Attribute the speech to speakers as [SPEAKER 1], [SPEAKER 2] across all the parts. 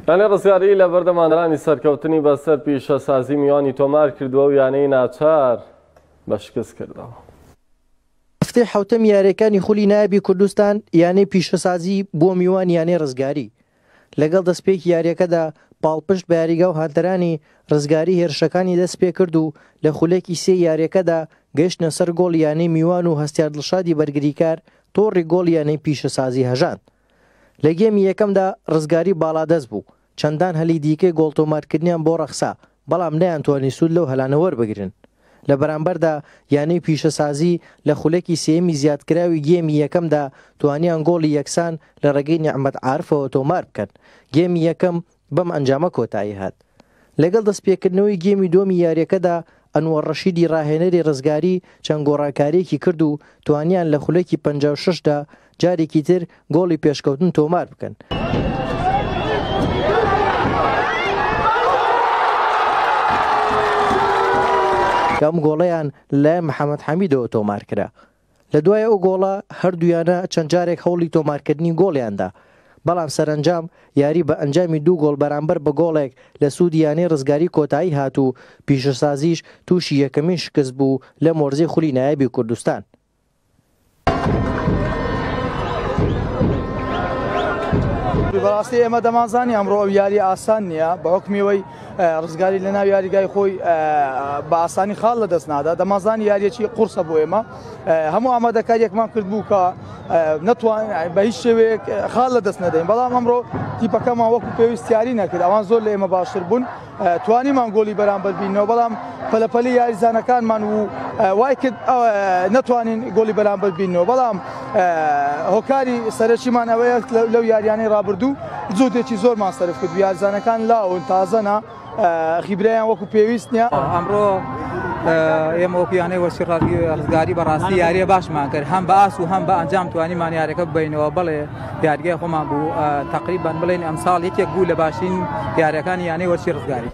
[SPEAKER 1] یانەی ڕزگاری لە بەردەمانرانی سەرکەوتنی بەسەر پیشەسازی میوانی تۆمار کردووە و یانەی ناچار بە شکست کردەوە.
[SPEAKER 2] هەفتەی حەوتەمی یارییەکانی خولی نایابی کوردستان یانەی پیشەسازی بووە میوانی یانەی ڕزگاری، لەگەڵ دەستپێکی یارییەکەدا پاڵپشت بە یاریگا و هاندەرانی ڕزگاری هێرشەکانی دەستپێکرد و لە خولەکی سێی یارییەکەدا گەیشتنە سەر گۆڵی یانەی میوان و هەستیار دڵشادی بەرگریکار تۆڕی گۆڵی یانەی پیشەسازی هەژاند. لە گێمی یەکەمدا رزگاری باڵادەست بوو، چەندان هەلی دیکەی گۆڵ تۆمارکردنیان بۆ رەخسا، بەڵام نەیانتوانی سوود لەو هەلانە وەربگرن. لە بەرامبەردا یانەی پیشەسازی لە خولەکی سێیەمی زیادکراوی گێمی یەکەمدا توانیان گۆڵی یەکسان لە رێگەی نیعمەت عارفەوە تۆماربکەن، گێمی یەکەم بەم ئەنجامە کۆتایی هات. لەگەڵ دەستپێکردنەوەی گێمی دووەمی یارییەکەدا، ئەنوەر ڕەشیدی ڕاهێنەری ڕزگاری چەند گۆڕانکارییەکی کرد و توانیان لە خولەکی پەنجا و شەش دا جارێکی تر گۆڵی پێشکەوتن تۆمار بکەن. کە ئەم گۆڵەیان لەلایەن محەمەد حەمیدەوە تۆمار کرا. لە دوای ئەو گۆڵە هەردوویانە چەند جارێک هەوڵی تۆمارکردنی گۆڵیان دا، بەڵام سەرەنجام یاری بە ئەنجامی دوو گۆڵ بەرامبەر بە گۆڵێک لە سوودی یانەی ڕزگاری کۆتایی هات و پیشەسازیش تووشی یەکەمین شکست بوو لەم وەرزەی خولی نایابی کوردستان.
[SPEAKER 3] بەڕاستی ئێمە دەمانزانی ئەمڕۆ ئەو یارییە ئاسان نییە بە هۆکمی ئەوەی ڕزگاری لە ناو یاریگای خۆی بە ئاسانی خاڵ لە دەست نادا دەمازانی یاریەکی قورسە بۆ ئێمە هەموو ئامادەکاریەکمان کرد بوو کە نەتوان بە هیچ شێوەیەک خاڵ لە دەست نەدەین بەڵام ئەمڕۆ تیپەکەمان وەکو پێویستیاری نەکرد ئەوان زۆر لە ئێمە باشتر بوون توانیمان گۆلی بەرامبەر بینەوە بەڵام پەلەپەلی یاریزانەکانمان و وای کرد نەتوانین گۆلی بەرامبەر بینەوە بەڵام هۆکاری سەرەکیمان ئەوەیە لەو یاریانەی رابردوو جوودێکی زۆرمان سەرف کرد یارزانەکان لاون تازەنا خیبرایان وەکو پێویست نیە ئەمڕۆ
[SPEAKER 4] ئێمە وەکویانەی وەسی ڕاوی ڕزگاری بەڕاستی یاریە باشمان کرد هەم باس و هەم بە ئەنجام توانیمان یارەکە بینەوە بڵێ یاریگای خۆمان بوو تقریبان بڵێن ئەمساڵ یەکێک بوو لە باشین یارەکانی یانەی وەسی ڕزگاری.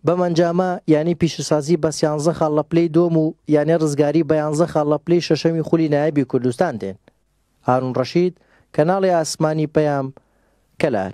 [SPEAKER 4] بەم ئەنجامە
[SPEAKER 2] یانەی پیشەسازی بە سیانزە خاڵ لە پلەی دووەم و یانەی رزگاری بە یانزە خاڵ لە پلەی شەشەمی خولی نایابی کوردستان دێن. هارون رەشید، کەناڵی ئاسمانی پەیام، کەلار.